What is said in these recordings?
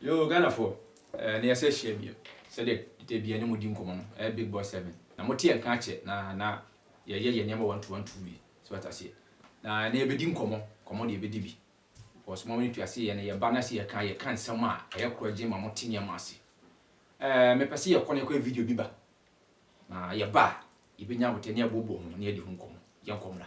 Yoo Ghanafoɔ eh na yɛsɛ hyia bio sɛdeɛ da biaa yɛne mo di nkɔmɔ no eh Big Boy Seven na mote yɛn nka akyɛ na na yɛyɛ yɛn nneɛma one two one two bi so wate aseɛ na ɛnɛ yɛbɛdi nkɔmɔ nkɔmɔ deɛ yɛbɛdi bi cos mo ntua se yɛne yɛba na se yɛka yɛka nsɛm a ɛyɛ korɔgye ma mote nneɛma ase eh mepɛ se yɛkɔ na yɛkɔyɛ video bi ba na yɛba a yɛbɛnya aboterɛ na yɛabobɔ ho na yɛadi ho nkɔmɔ yɛnkɔ mmra.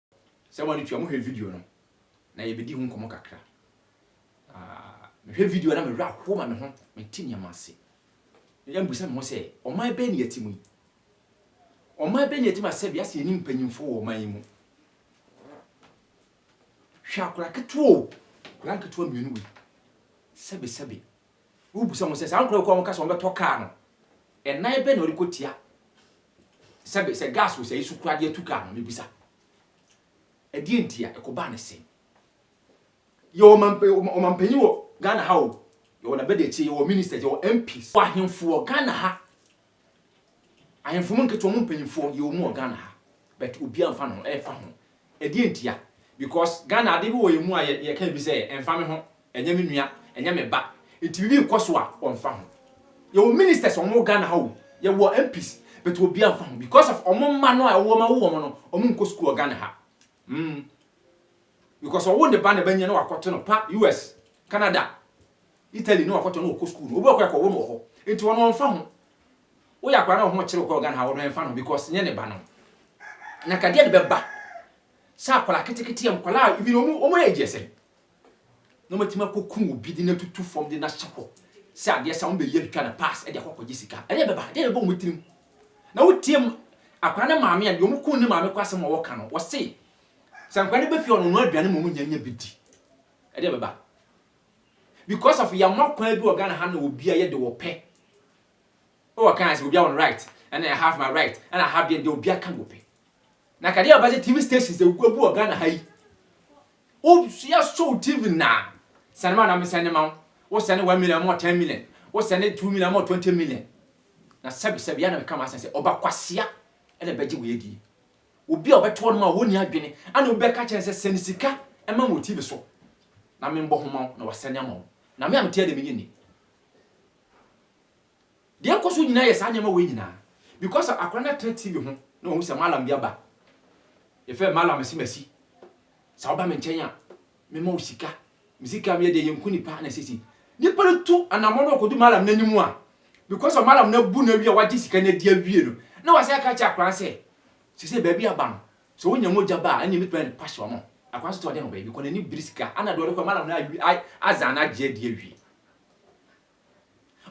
Sɛ wɔn adetua mohwɛ video no na yɛbɛdi ho nkɔmmɔ kakra. Mehwɛ video na mewerɛ ahoɔ ma me ho, mete nneɛma ase. Yɛ mbusa me ho sɛ, ɔman bɛn ne yɛte mu yi? Ɔman bɛn ne yɛte mu a sɛbi asɛ yɛni mpanyimfoɔ wɔ ɔman yi mu? Hwɛ akora ketewa o, akora nketewa mmienu wei, sɛbesɛbe Wobisa wɔn sɛ, saa nkorɔfoɔ a wɔka sɛ wɔbɛtɔ kaa no, ɛnan bɛn na wɔde kɔtia? Sɛbe, sɛ gas wɔ sɛeɛ so koraa de atu kaa no, mebisa, ɛdeɛn nti a ɛkɔbaa no sɛn? Yɛwɔ ɔmampa, ɔmampanin wɔ Ghana ha o, yɛwɔ n'abadiakyire, yɛwɔ ministers, yɛwɔ MPs, yɛwɔ ahenfo wɔ Ghana ha, Ahemfo mu nketewa mu mpanyimfoɔ yɛwɔ mu wɔ Ghana ha but obiara mfa ne ho ɛmfa ho. Ɛdeɛn ntia? Because Ghana adeɛ bi wɔ yɛn mu a yɛka bi sɛ ɛmfa me ho, ɛnyɛ me nua, ɛnyɛ me ba nti biribi rekɔ so a wɔmfa ho. Yɛwɔ ministers a wɔwɔ Ghana ha o, yɛwɔ MPs but obiara mfa ho because of wɔn mma no a ɛwɔ wɔn awo wɔn no, wɔnkɔ sukuu wɔ Ghana ha. Mm. Because ɔwo ne ba na bɛnyɛ na wakɔto no pa US, Canada, Italy na ɔkɔtɔ na ɔkɔ school no obi ɔkɔ ɛkɔ wo no wɔ hɔ nti ɔno ɔnfa ho woyɛ akora na ɔho kyerɛ ɔkɔ Ghana ha ɔno ɛnfa no because nyɛ ne ba no na kadeɛ ne bɛba sɛ akwadaa keteketeɛ nkwadaa even ɔmo ɔmo age ɛsɛ na ɔmo atumi akɔ kun obi de na tutu fam de na hyɛ hɔ sɛ adeɛ sɛ ɔmo bɛ yɛ twitwa na pass ɛde akɔ kɔgye sika ɛdeɛ bɛba ɛdeɛ bɛba ɔmo tirim na wotie mu akwadaa ne maame a deɛ ɔmo kun ne maame kɔ asɛm a wɔka no wɔse sɛ nkwadaa ne bɛ fie ɔno ɔno aduane ma ɔmo nya nya bi di ɛdeɛ bɛba. because of yɛama kwan bi wɔ Ghana ha na obia yɛ de wɔpɛ o ɔka yɛn sɛ obia wɔn right ɛna I have my right ɛna I have deɛ deɛ obia ka wɔpɛ na kadeɛ ɔbɛ sɛ TV stations de gu wɔ Ghana ha yi o yɛ so TV na sɛne ma na me sɛne ma wo sɛne 1 million mo 10 million wo sɛne 2 million mo 20 million na sɛbi sɛbi ya na me kama asɛn sɛ ɔba kwasia ɛna bɛgye wɔ yɛ die Obi a ɔbɛto hɔnom a ɔnni adwene ana obi bɛka akyerɛ no sɛ, Sɛne sika ma me wɔ TV so na menbɔ ho ma wo na wasɛne ama wo? Na me a mete ha deɛ, menyɛ nni. Deɛ ɛkɔ so nyinaa yɛ saa nneɛma wei nyinaa because akwadaa no atena TV ho na wahu sɛ Mallam bi aba. Yɛfrɛ no Mallam Asimasi. Sɛ woba me nkyɛn a, Mema wo sika, me sika a meyɛ deɛ yɛnku nipa ana sɛsei nipa no tu anamɔ na ɔkɔdu malam no anim a because of malam no abu no awie a wagye sika no adi awie no na wasan aka akyerɛ akwadaa no sɛ sɛsei baabi aba no sɛ wonya mogya ba a ɛnneɛ mɛtumi ayɛ no passion ama akwadaa no sɛ ɔde no baabi kɔ n'ani bere sika ana deɛ ɔde kɔ malam no azan no agye adi awie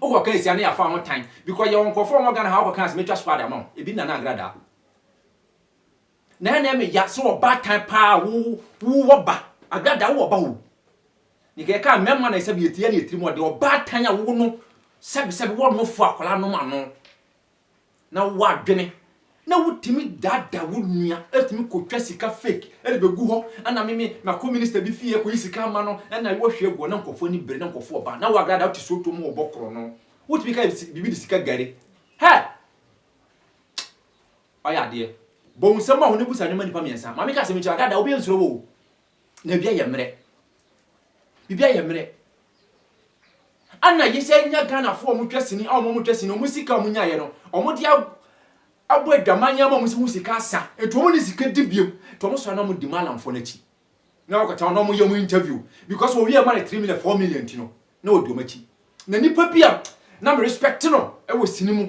wokɔ ka asia ne yɛafa ho tan because yɛwɔ nkurɔfoɔ a wɔn Ghana ha wokɔ ka ase mɛtwa squad ama wo ebi nana agradaa Na ɛnɛ me ya sɛ ɔbaatan paa wo wo wɔ ba agrada wo wɔ ba o ne kɛ ka mɛma na sɛbi etia ne etiri mu ɔde ɔbaatan a wo no sɛbi sɛbi wɔ no fo akɔla no ma no na wo wɔ adwene na wo timi dada wo nua etimi kɔ twa sika fake ɛde bɛ gu hɔ ɛna me me ma kɔ minister bi fie kɔ yi sika ama no ɛna yi wɔ hwɛ gu hɔ na nkɔfo ani bere na nkɔfo wɔ ba na wo agrada wo ti so to mu wɔ bɔ korɔ no wo timi ka bibi de sika gari hɛ Ɔyɛ adeɛ. Bɔ wo nsam ma wo ne busa nneɛma nnipa mmiɛnsa. Maame ka asɛm yi kyerɛ wo, Daadaa obi nsuro wo o. Na biribi ayɛ mmerɛ. Biribi ayɛ mmerɛ. Ana yɛsan nya Ghanafoɔ a wɔtwa sini a wɔtwa sini no, wɔn sika a wɔnyaeɛ no, wɔde abɔ adwaman ama wɔn sɛ wɔn sika asa. Nti wɔn nni sika di bio. Nti wɔsɔre na wɔdi Mallamfoɔ no akyi. Na wɔkɔtena hɔ na wɔyɛ wɔn interview. Because wɔwie ma no three million, four million nti no, na wɔdi wɔn akyi. Na nipa bi a na me respect no wɔ sini mu.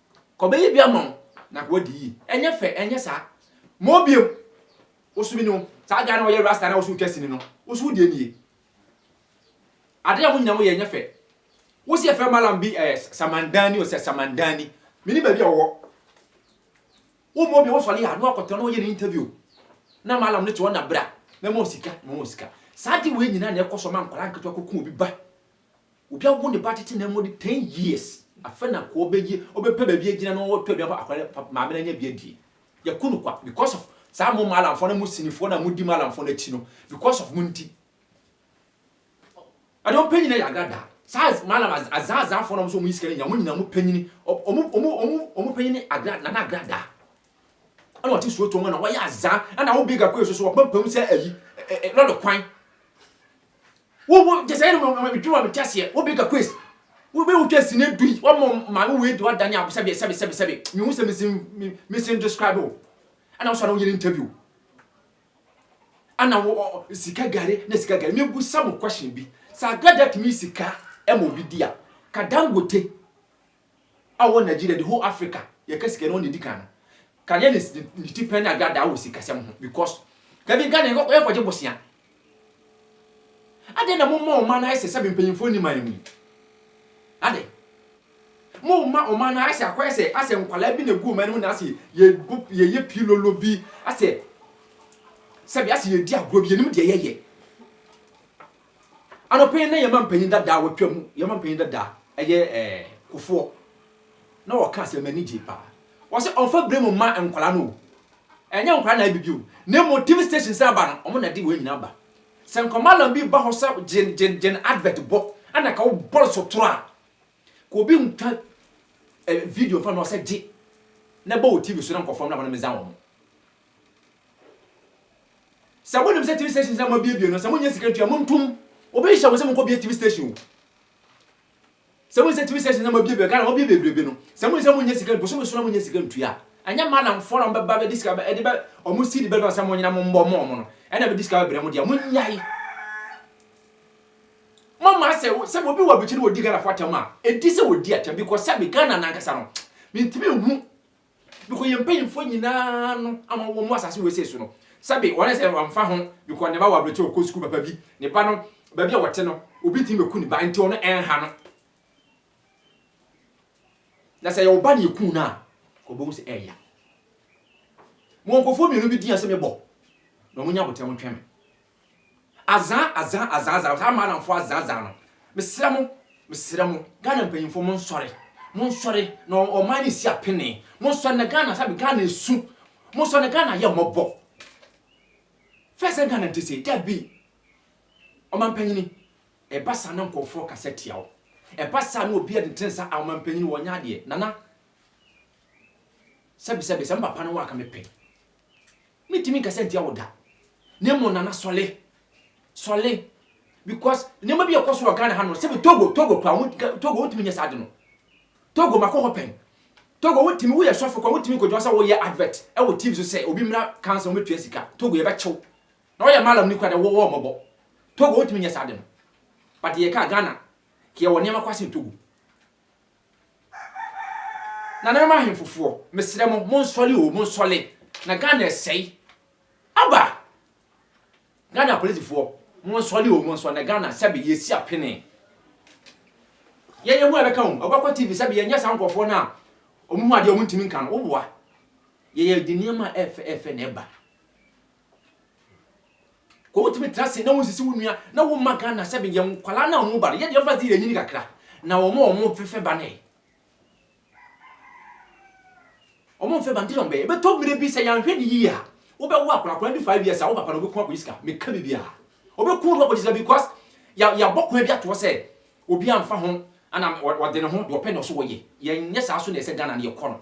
Kɔbɛyɛ bi ama wo na nka wadi yie. Ɛnyɛ fɛ, ɛnyɛ saa. Ma ɔbiem. Wo so bi ne wo. Saa guy no a ɔyɛ rasta na wo so retwa sini no, wo so wo deɛ nie? Adeɛ a mo nyinaa mo yɛ ɛnyɛ fɛ. Wo se yɛfrɛ Mallam bi ɛɛ Samandani o sɛ Samandani. Me nim baabi a ɔwɔ. Wo ma ɔbiem wo sɔre a na wakɔ tena na ɔyɛ ne interview. Na Mallam no te hɔ na bra, mɛma wo sika, mɛma wo sika. Saa adeɛ wei nyinaa na ɛkɔ so ma nkwadaa nketewa kɔku obi ba. Obi awo ne ba tete na ɛmu de ten years, afɛ na kɔ ɔbɛgye, ɔbɛpɛ baabi agyina na ɔtɔ aduan fa akwadaa no, maame no anya bi adie. Yɛku no kwa because of saa mo maalamfoɔ na mo sinifoɔ na modi maalamfoɔ no akyi no, because of mo nti. Ɛdeɛ wɔn pɛ nyina yɛ agradaa. Saa maalam azaazaafoɔ na wɔn nso wɔn yi sika no nyina, wɔn nyina wɔn pɛ nyini, wɔn wɔn wɔn pɛ nyini agra nana agradaa. Ɛna wɔte suo tuo mu na wɔyɛ azaa, ɛna wo big akɔ yɛ soso wɔn pɛ pɛ mu sɛ ayi, ɛ ɛ lɔre kwan. Wo wo gye sɛ ɛna mo mo dwuma mo te aseɛ. Wo bigger quest. Wo bɛ wo twɛ sini du yi. Wa mo maame wo edi wa dani abo sɛbi sɛbi sɛbi sɛbi. Mi hu sɛ mi sin mi mi sin describe wo. Ɛna wo sɔ na wo yɛ ni interview. Ɛna wo o sika gari na sika gari. Mi bu sa mo question bi. Sɛ agrada tumi sika ɛma obi di a, ka dangote a ɔwɔ Nigeria the whole Africa yɛka sika no ɔna edi kan no ka yɛ ne ne ti pɛn na adaadaa wɔ sikasɛm ho because dabi Ghana yɛkɔ yɛkɔ gye bosea adɛn na mo ma ɔman no ayɛ sɛ sɛbi mpanyinfoɔ ni man mu yi adɛn mo ma ɔman no ayɛ sɛ akɔyɛ sɛ asɛ nkwadaa bi na egu ɔman no mu na asɛ yɛ yɛ yɛ pilolo bi asɛ sɛbi asɛ yɛ di agorɔ bi yɛ nim deɛ yɛ yɛ. Anɔpa yi na yɛn mampanyin dadaa watwa mu, yɛn mampanyin dadaa ɛyɛ ɛɛ kofoɔ na ɔka asɛm m'ani gye paa. Wɔsɛ ɔnfa bere mu mma nkwadaa no o. Ɛnyɛ nkwadaa na ɛbibi o. Na mmom TV stations a aba no, wɔn na ɛde wɔn nyinaa ba. Sɛ nkɔmaalam bi ba hɔ sɛ gyen gyen gyen advert bɔ, ɛna ka wobɔ no so toro a, ka obi ntwa video mfa ma ɔsɛ gye na bɔ wɔ TV so na nkɔfoɔ mmra hɔ na mmɛza wɔn. sɛ wonim sɛ tv stations na moabiebie no sɛ monyɛ sika ntua montom wobɛhyehyɛ mo sɛ monkɔbie tv station o sɛ wonim sɛ tv stations na moabiebie ghana mabie bebrebe no sɛ monim sɛ monyɛ sika bosome so na monyɛ sika ntua ɛnyɛ malamfoɔ na mbɛba bɛdi sika ɛde bɛ ɔmo si de bɛdɔn sɛ monyina mo mbɔ mo ɔmo no ɛna bɛdi sika bɛbrɛ mo deɛ monyae mama sɛ sɛ obi wɔ abikyi no wɔdi ghanafoɔ atɛm a ɛdi sɛ wɔdi atɛm bikɔ sɛ me ghana nankasa no mentumi hu Bikɔ yɛn mpanyimfoɔ nyinaa no ama wɔn asase wesee so no, sɛbe wɔn sɛ wɔmfa ho, bikɔ ne ba wɔ aberɛkyɛ ɔkɔ sukuu papa bi, ne ba no, baabi a wɔte no, obi tumi bɛku ne ba, nti ɔno ɛnha no. Na sɛ ɛyɛ wo ba na yɛkuu no a, wɔbɛhu sɛ ɛɛya. Mewɔ nkurɔfoɔ mmienu bi din a sɛ mebɔ na wɔnya aboterɛ wɔtwɛn me. Azaa azaa azaa azaa saa maadamfoɔ azaa azaa no mesrɛ mo mesrɛ mo Ghana mpanyinfoɔ mo nsɔre mo nsɔre na ɔman no nsi apenee mo nsɔre na Ghana sɛbi Ghana esu mo nsɔre na Ghana yɛ mmɔbɔ fɛɛ sɛ Ghana nte sei dabi ɔmampanyini ɛba saa na nkɔfoɔ kasa tia wo ɛba saa na obi ɛde tensa a ɔmampanyini wɔnyɛ adeɛ nana sɛbi sɛbi sɛ mpapa no wɔ aka mepɛ Mentumi nkasa ntia wo da na mmom Nana sɔle sɔle because nneɛma bi a ɛkɔ so wɔ Ghana ha no sɛ Togo Togo kora wo Togo wontumi nyɛ saa de no Togo makɔ hɔ pɛn Togo wontumi woyɛ sɔfo kora wontumi nkɔgyina sɛ woyɛ advert ɛwɔ TV so sɛ obi mmra kansa wɔbɛtua sika Togo yɛbɛkyew na woyɛ malam ni kora de wɔwɔ mmɔbɔ Togo wontumi nyɛ saa de no but yɛka Ghana kɛ yɛwɔ nneɛma kɔ asen Togo. Nananom ahenfofoɔ, mesrɛ mo, monsɔle o, monsɔle, na Ghana ɛsɛe. Aba! Ghana apolisifoɔ, monsɔle o, monsɔle, na Ghana sɛbe yɛsi apene. Yɛn yɛn ho a ɛbɛka o, ɔbɛkɔ TV sɛbe yɛnyɛ saa nkurɔfoɔ no a wɔn ho adeɛ a wɔntumi nka no, woboa. Yɛyɛ de nneɛma a ɛfɛ ɛfɛ na ɛba. Kɔ wotumi tra se na wonsisi wo nua na wo mma Ghana sɛ yɛ nkwalaa na wɔn ba no yɛ deɛ ɔfa se yɛ nyini kakra na wɔn a wɔn fefɛ ba no ɛ wɔn fɛ ba nti na wɔn bɛyɛ bɛtɔ mmiri bi sɛ yɛanhwɛ ne yie a wobɛwo akwadaa akwadaa di five years a wo papa na ɔbɛko akɔyi sika meka biribi a ɔbɛko no akɔyi sika because yɛ yɛabɔ kwan bi atoɔ sɛ obi anfa ho ana ɔde ne ho deɛ ɔpɛ na ɔso wɔyɛ yɛnyɛ saa so na ɛsɛ Ghana no yɛkɔ no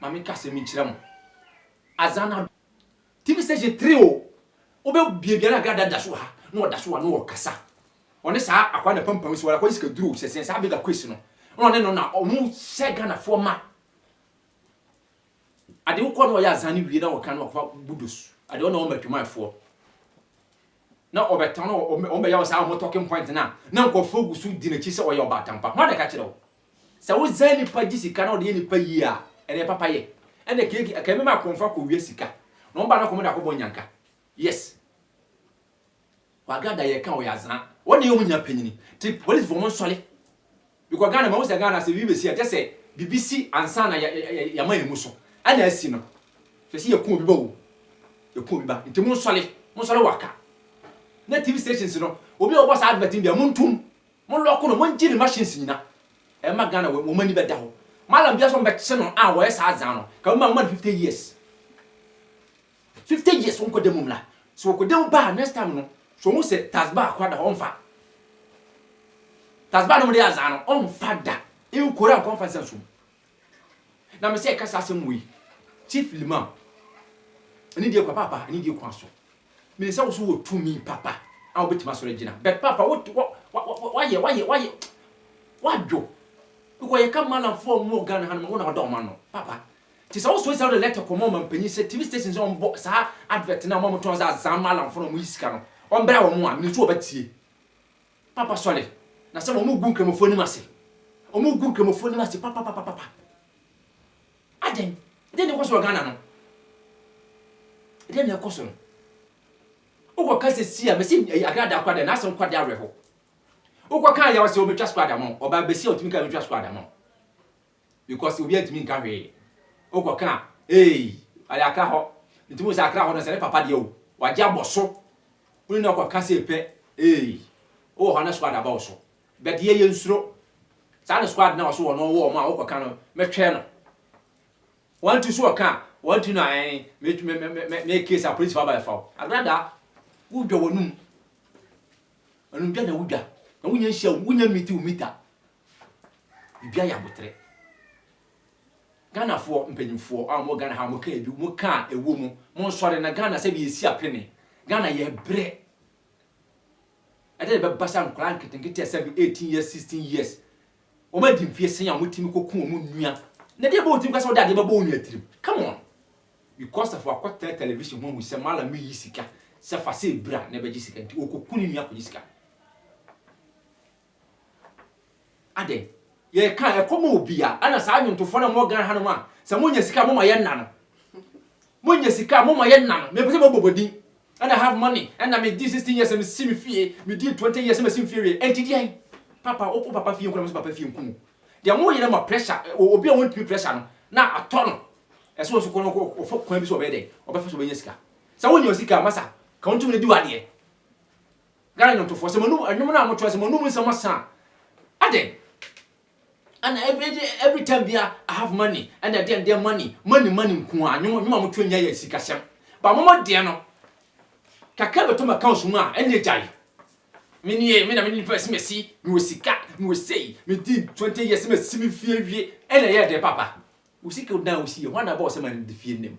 Ma me kasa mu nkyerɛ mo adza na. TV station three o, wobɛ biabia na Grada da so wɔ ha, na ɔda so wɔ ha na ɔrekasa. Ɔne saa akwaa na pampam si wɔ ha, akwaa yi sika duru o, sɛ sɛn saa Bega Quays no, na ɔne no na ɔmo hyɛ Ghanafoɔ ma. Ade wokɔ na ɔyɛ adza no wie na ɔka na ɔkɔfa budos, ade ɔne ɔma adwumayɛfoɔ, na ɔbɛtɔn na ɔmo bɛyɛ wɔ saa ɔmo talking point no a, na nkorɔfoɔ gu so di n'akyi sɛ ɔyɛ ɔbaatan pa, hwan na ɛka kyerɛ wo? Sɛ wo sɛɛ nipa gye sika na ɔde yɛ nipa yie a ɛneɛ papa yɛ ɛnɛ keeki ɛka ɛmɛma akorɔmfo akɔ wia sika na wɔn ba no akɔ wɔn de akɔ bɔ nyanka yes wagada yɛ ka ɔyɛ azaa wɔn na yɛ wɔn nyina panyini te police fo wɔn nsɔle bikɔ Ghana ma wosɛ Ghana sɛ bi besi a kyɛsɛ bibi si ansa na yɛ yɛ yɛ yɛma yɛ mu so ɛna asi no sɛ si yɛ kun obi ba o yɛ kun obi ba nti mo nsɔle mo nsɔle waka na TV stations no obi a ɔbɔ saa advert no bia mo ntum Mo lɔko no mo ngye ne machines nyina ɛma Ghana wɔ wɔn ani bɛda hɔ Mallam bia sɛ wɔn bɛkye no a wɔyɛ saa adzaa no ka wɔn ma wɔma no fifty years fifty years wɔn kɔ da mu mmra sɛ wɔkɔ da mu ba a next time no sɛ wɔn hu sɛ tasbah kora da hɔ wɔn nfa tasbah no wɔn de yɛ adzaa no wɔn nfa da nkora nkɔ nfa nsa nsom Na mesɛ ɛka saa asɛm wei, Chief Limam, ɛne deɛ kɔ paapa, ɛne deɛ kɔ aso. Menim sɛ wo so wɔ tumi papa a wobɛtumi asɔre agyina. But paapa, wo, wo, wa, wa, wa, wayɛ, wayɛ, wayɛ, wadwo. Because yɛka malamfoɔ a wɔwɔ Ghana ha no ma, wo na wada wɔn ano, papa. Nti sɛ wosɔre sɛ wode letter kɔma ɔmampanyin sɛ TV station sɛ wɔmmɔ saa advert no a wɔn a wɔtɔn sɛ azaa malamfoɔ na wɔyi sika no, wɔmmra wɔn a, menim sɛ wɔbɛtie. Papa sɔre, na sɛ wɔn gu Nkramofoɔ nim ase. Wɔn gu Nkramofoɔ nim ase papapapapa. Adɛn? Dɛn na ɛkɔ so wɔ Ghana no? Dɛn na ɛkɔ so no? Wokɔ ka sɛ si a, mesi ɛyi agradaa kɔ adɛn? N'asɛm kɔ adɛn awerɛho. Wokɔ ka ayɛ wɔsɛ wɔbɛtwa squad ama wo. Ɔbaa besi a ɔtumi ka wɔbɛtwa squad ama wo. Because obiara ntumi nka hwee. Wokɔ ka a, eei, ɔyɛ akra hɔ. Nti wohu sɛ akra hɔ no, sɛ ne papa deɛ o, wagye abɔ so. Wo ne no kɔ ka sei pɛ, eei, wowɔ hɔ a na squad aba wo so. But yɛ yɛnsuro. Saa ne squad no a ɔse wɔno ɔwɔ wɔn a wokɔ ka no, mɛtwɛn no. One two so wɔ ka a, one two no a ɛn, me, me, me, me, meyɛ case a polisifoɔ aba bɛfa wo. Agrada, wodwa w'anum. Anumdwa na wodwa. Na wonya nhyia, wonya miti wo mita. Ebi ayɛ aboterɛ. Ghanafoɔ mpanyinfoɔ a wɔwɔ Ghana ha wɔka ebi, wɔka a ɛwɔ mu. Monsɔre na Ghana sɛdeɛ yɛsi apene. Ghana yɛbrɛ. Ɛdeɛn na ɛbɛba sɛ nkwadaa nketenkete a seven, eighteen years, sixteen years, wɔn adi mfeɛ sɛn a wɔtumi kɔku wɔn nua. Na ɛdeɛn bɛbɔ wo tirim koraa sɛ wode adeɛ bɛbɔ wo nua tirim? Come on! Because of wakɔtena television ho ahu sɛ Mallam reyi sika, sɛ fa sei bra na ɛbɛgye sika nti, ɔkɔku ne nua kɔgye sika. Adɛn? Yɛka a, ɛkɔma obi a. Ɛna saa nnwontofoɔ no a mowɔ Ghana hanom a, sɛ monya sika a, moma yɛnna no. Monya sika a, moma yɛnna no. Mempɛ sɛ mobɔ mo din. Ɛna I have money. Ɛna medii 16 years na mesi me fie. Medii 20 years na masi me fie awie. Ɛnti deɛn? Papa, wo papa fie nkɔnom sɛ papa fie nku wo. Deɛ moyɛ no ma pressure, obi a wɔntumi pressure no na atɔ no. Ɛsɛ ɔno nso kɔ no ɔfa kwan bi so ɔbɛyɛ dɛn? Ɔbɛfa so ɔbɛnya sika. Sɛ wonya sika a, masa, ka wo ntumi no di w'adeɛ. Ghana nwomtofoɔ sɛ monum nwom no a motoa sɛ monum nsɛm ɔsa a adɛn ɛna every time bia I have money ɛna ɛdɛn dɛn money money money nko a nwom nwom a motoa nya yɛ sikasɛm ba mo mo deɛ no kakra bɛtɔ ma accounts mu a ɛne gyae me nie me na me nipa ɛsi mɛsi me wɔ sika me wɔ sei me di 20 years mɛsi me fie wie ɛna ɛyɛ dɛn papa wo sika wo dan wo si yɛ hɔ na bɔ ɔsɛ ma ne fie nim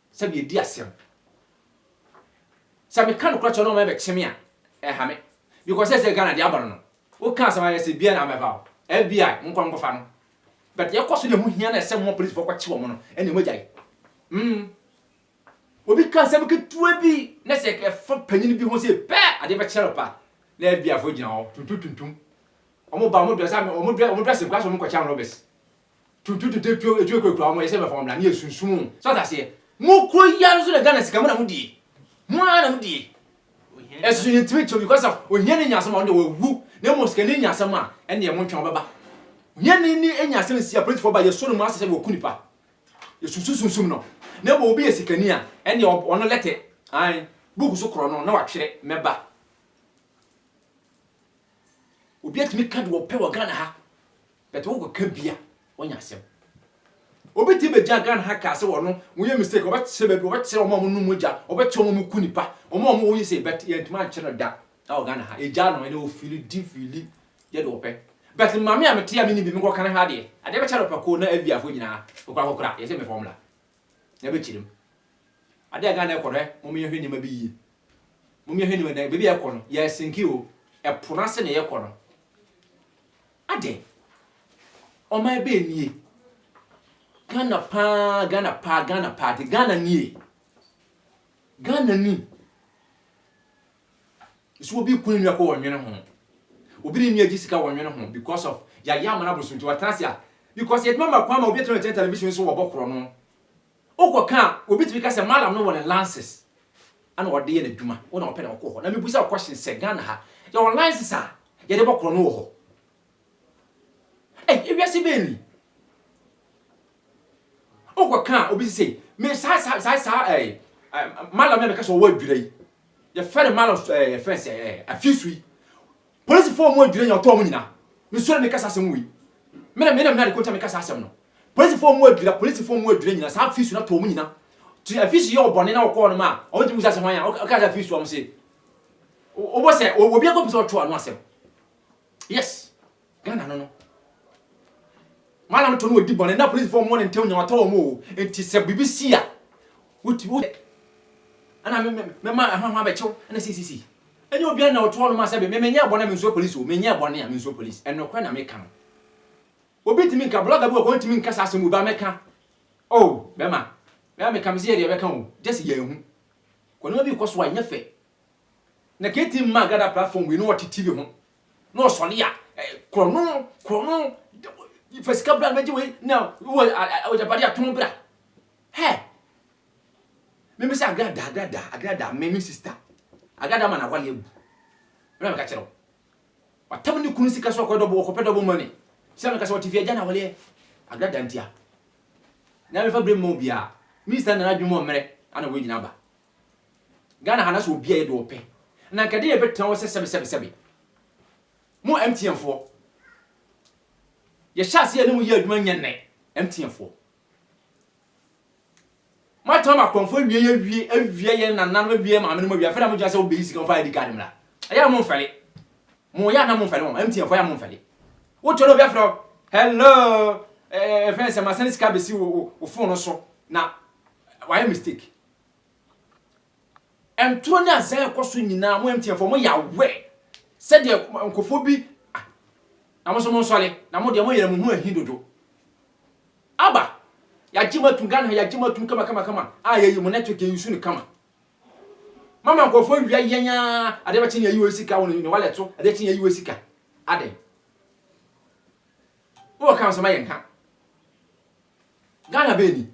Sɛ medi asɛm. Sɛ meka nokorɛ kyerɛ no na ɔma ɛbɛkye me a, ɛnha me. Because sɛsɛ Ghana deɛ aba no no, woka asɛm a yɛse biaa na abɛfa wo. FBI, monkɔ monkɔfa no. But yɛkɔ so na ɛho hia no a ɛsɛ moma policefoɔ kɔkye wɔn no, ɛneɛ moagyae. Mm. Obi ka asɛm ketewa bi na sɛ ɛfa panyin bi ho sei pɛ, adeɛ bɛkye no pa. Na FBI foɔ gyina hɔ, tuntum tuntum. Wɔn ba wɔn dress, wɔn dress, wɔn dressing koraa sɛ wɔn kɔkyɛ anrɔbɛs. Tuntum tuntum tuo etu ekurakura wɔn yɛsɛ bɛfa wɔn bra ne yɛ sunsum o. So ɔte aseɛ? Mo kuro yi ara nso na Ghana sika mo na mo die. Mo ara na mo die. Ɛso yɛ ntumi nkyɛm because of ohia ni nya asɛm a ɔno deɛ wawu na mmom sika ni nya asɛm a ɛneɛ mo ntwɛn ɔbɛba. Ohia ni ni nya asɛm nsi apolisifoɔ ba yɛsɔ no mu asɛ sɛ wɔku nipa. Yɛ sunsum sunsum no. Na mmom obi yɛ sika ni a ɛneɛ ɔno lɛtɛ ae book so korɔ no na watwerɛ mɛba. Obi atumi ka deɛ ɔpɛ wɔ Ghana ha. But wo kɔ ka bi a wo nya asɛm. Obi te bɛ gyina Ghana ha kaa sɛ wɔno mo yɛ mistake wɔbɛ kyerɛ bɛ bi wɔbɛ kyerɛ wɔn a wɔn nom mogya wɔbɛ kyerɛ wɔn a wɔn ku nipa wɔn a wɔn wɔ yi sɛ but yɛn ntoma nkyerɛ no da ɛwɔ Ghana ha yɛ gyaa no ɛnɛ wɔ fili di fili yɛ deɛ wɔpɛ but maame a me te a me nim bi me kɔ kan ha deɛ adeɛ bɛ kyɛ no pɛko na FBI fo nyinaa okura kokura yɛ sɛ me fɔm la na bɛ kyerɛ mu adeɛ a Ghana ɛkɔ no ɛ mo yɛ hwɛ nneɛma bi yie mo yɛ hwɛ nneɛma dan baabi a ɛkɔ no yɛ sinki o ɛpo n'ase na yɛ kɔ no. Adɛn? Ɔman bɛn nie? Ghana paa, Ghana paa, Ghana paa de, Ghana nie. Ghana ni. Nso obi reko ne nua kɔ wɔnwene ho. Obi ne nua gye sika wɔnwene ho because of yɛayɛ amana bosom nti wɔatena ase a because yɛtuma ma kwan ma obi atena ɔkyɛn television so wɔbɔ korɔ no. Wokɔ ka a, obi tumi ka sɛ Mallam no wɔ ne lances na ɔde yɛ n'adwuma, wo na wopɛ na wokɔ hɔ. Na mebisa wo question sɛ, Ghana ha, yɛwɔ lances a yɛde bɔ korɔno wɔ hɔ? Ei, ewiase bɛn ni? Wokɔ ka a, obi se sei, me saa saa saa saa ɛɛ Mallam no a meka sɛ ɔwɔ adwira yi, yɛfrɛ no Mallam ɛɛ yɛfrɛ sɛ ɛɛ afisu yi, Polisifo a wɔn adwira nya ɔtɔ wɔn nyinaa nsuro me kasa asɛm wei. Me na me na me na de kɔntwa me kasa asɛm no. Polisifo a wɔn adwira, polisifo a wɔn adwira nyinaa saa afisu no atɔ wɔn nyinaa. Ti afisu yɛ ɔbɔne na wɔkɔ hɔnom a, wɔn ti mu sa sɛ hwan a ɔka sɛ afisu wɔn se. Wɔbɔ sɛ obi akɔ pɛ sɛ ɔtwe ano asɛm. Yes. Ghana no no. Maame no to no ɔdi bɔne na polisfoɔ mmɔ no ntɛm nyawatɔ wɔn oo nti sɛ biribi si a wotumi wo sɛ ɛna me me mɛma ɛho ɛho abɛkye wo ɛna sisi sisi ɛnyɛ obiara na ɔtoɔ no ma sɛ me menyɛɛ bɔne a mensuro polis o menyɛɛ bɔne a mensuro polis ɛnokorɛ na meka no obi ntumi nka blogger bi wɔ kɔ ntumi nka saa asɛm obi a mɛka oh bɛma bɛma meka mese yɛ deɛ bɛka o just yɛ ahu kɔnema bi kɔ so a ɛnyɛ fɛ na kati mma agrada platform wei no ɔte tv ho na ɔsɔre a korɔno korɔno fa sika bra bɛgye wei na wɔ agyapade a tom bra hɛ meme sɛ agrada agrada agrada me me sista agrada ma na wale agu ɛna meka kyerɛ wo watam ne kunu sika so ɔkɔ dɔbo ɔkɔpɛ dɔbo mane sɛ meka sɛ ɔte fi agya na wale agrada ntia na mefa berɛ mma obiaa minista nana adwuma ɔmmerɛ ana wɔgyina ba Ghana ha na sɛ obi a yɛ deɛ ɔpɛ na nka deɛ yɛbɛtena hɔ sɛ sɛbe sɛbe sɛbe. Mo MTN foɔ yɛhyɛ aseɛ yɛne mo yɛ adwuma nyɛ nnɛ MTN foɔ. Moatena mo akɔmfoɔ awie yɛ awie awie yɛ nananom awie yɛ maame nom awie afei na mogyina sɛ wobɛyi sika mfa ID card mmra. Ɛyɛ a momfɛle. Mo yɛ a na momfɛle wɔn MTN foɔ yɛ a momfɛle. Wotɔ na obi afrɛ hello ɛfɛn sɛ masɛne sika bɛsi wo phone so na wayɛ mistake. Ntoro ne azan a ɛkɔ so nyinaa, mo MTNfoɔ mo yɛ aware sɛdeɛ nkurɔfoɔ bi ah, na mo nso mo nsɔre na mo deɛ mo yɛrɛ mo ho ahi dodo. Aba, yɛagye mo atum Ghana ha yɛagye mo atum kama kama kama a yɛyi mo network yɛyi so no kama. Mama nkurɔfoɔ awia yɛn aa, adeɛ bɛkye ne yɛyi wɔ sika wɔ ne wallet so, adeɛ kye ne yɛyi wɔ sika. Adɛn? Wowɔ ka nsɛm a yɛnka. Ghana bɛɛ ni.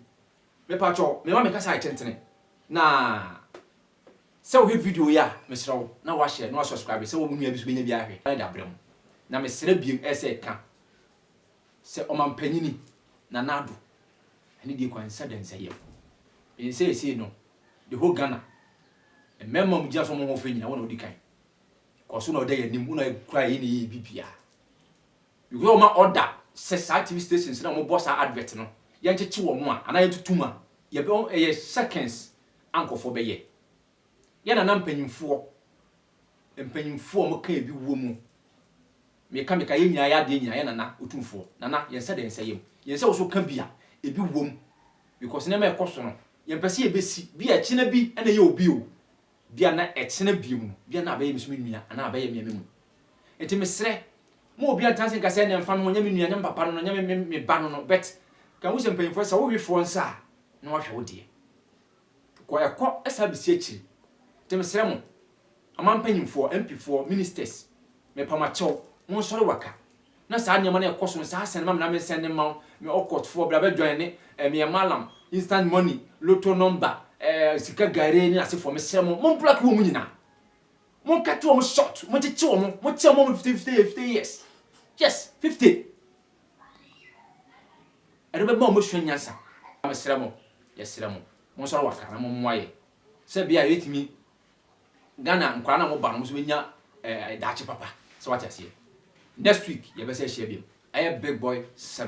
Mepakyɛw mema me kasa yɛ tentene na sɛ wohwɛ video yi a mesrɛ wo na woahyɛ na woasɔskraibe sɛ wo nua bi nso bɛnya bi ahwɛ na de abrɛ mo. Na mesrɛ bio sɛ ka sɛ Ɔmampanyini Nana Addo ɛne deɛ Kwansah Dansayɛm. Menim sɛ seesei no the whole Ghana mmarima a wɔgyina so a wɔn ho fɛ nyinaa wo na wodi kan. Kɔ so na da yɛn anim, wo na kura yɛn na yɛyɛ biribiara. Yehowa bɛma order sɛ saa TV stations no a wɔbɔ saa advert no, yɛnkyekye wɔn a, anaa yɛntutu mu a, yɛbɛ, ɛyɛ seconds a nkorɔfoɔ bɛyɛ. Yɛn nana mpanyimfoɔ, mpanyimfoɔ a wɔka ebi wɔ mu, meka meka yɛn nyinaa yɛ adeɛ nyinaa, yɛn nana otumfoɔ, nana yɛn nsa da yɛn nsa yam, yɛn sɛ wo so ka bi a, ebi wɔ mu, because nneɛma a ɛkɔ so no, yɛmpɛ sɛ yɛbɛsi, bi a ɛkyena bi na ɛyɛ obi o. Bia na ɛkyena bio no, bia na abɛyɛ me so me nua anaa abɛyɛ me a me mu. Nti mesrɛ, mo obia ntena ase nka sɛ ɛnneɛ mfa no ho, ɔnyɛ me nua, ɔnyɛ me papa no no, ɔnyɛ me me ba no no, but ka hu sɛ mpanyinfoɔ sɛ wowe foɔ nsa a, na wahwɛ wo deɛ. Kɔ ɛkɔ ɛsan bɛsi akyiri. Nti mesrɛ mo, ɔman mpanyinfoɔ, MP foɔ, ministers, mepamakyɛw, monsɔre waka, Na saa nneɛma no a ɛkɔ so no, saa sɛn ma me na mensɛn de mma wo, me ɔkɔtfoɔ, bra bɛdwɔn ne ɛmeɛ malam, instant money, lotto number, ɛɛ sika gare ne asefoɔ, mesrɛ mo, mo block wɔn nyinaa, mo cut wɔn short, mo kyekye wɔn, mo kyɛ wɔn fifty fifty fifty years, yes fifty, ɛno bɛma wɔn asua nyansa, mesrɛ mo, yɛsrɛ mo, monsɔre waka na mommoa yɛn, sɛ bia yɛbɛtumi. Ghana nkwadaa no a wɔba no wɔn nso bɛnya daakye papa. So wate aseɛ? Next week yɛbɛsan ahyia bio. Ɛyɛ big boy seven.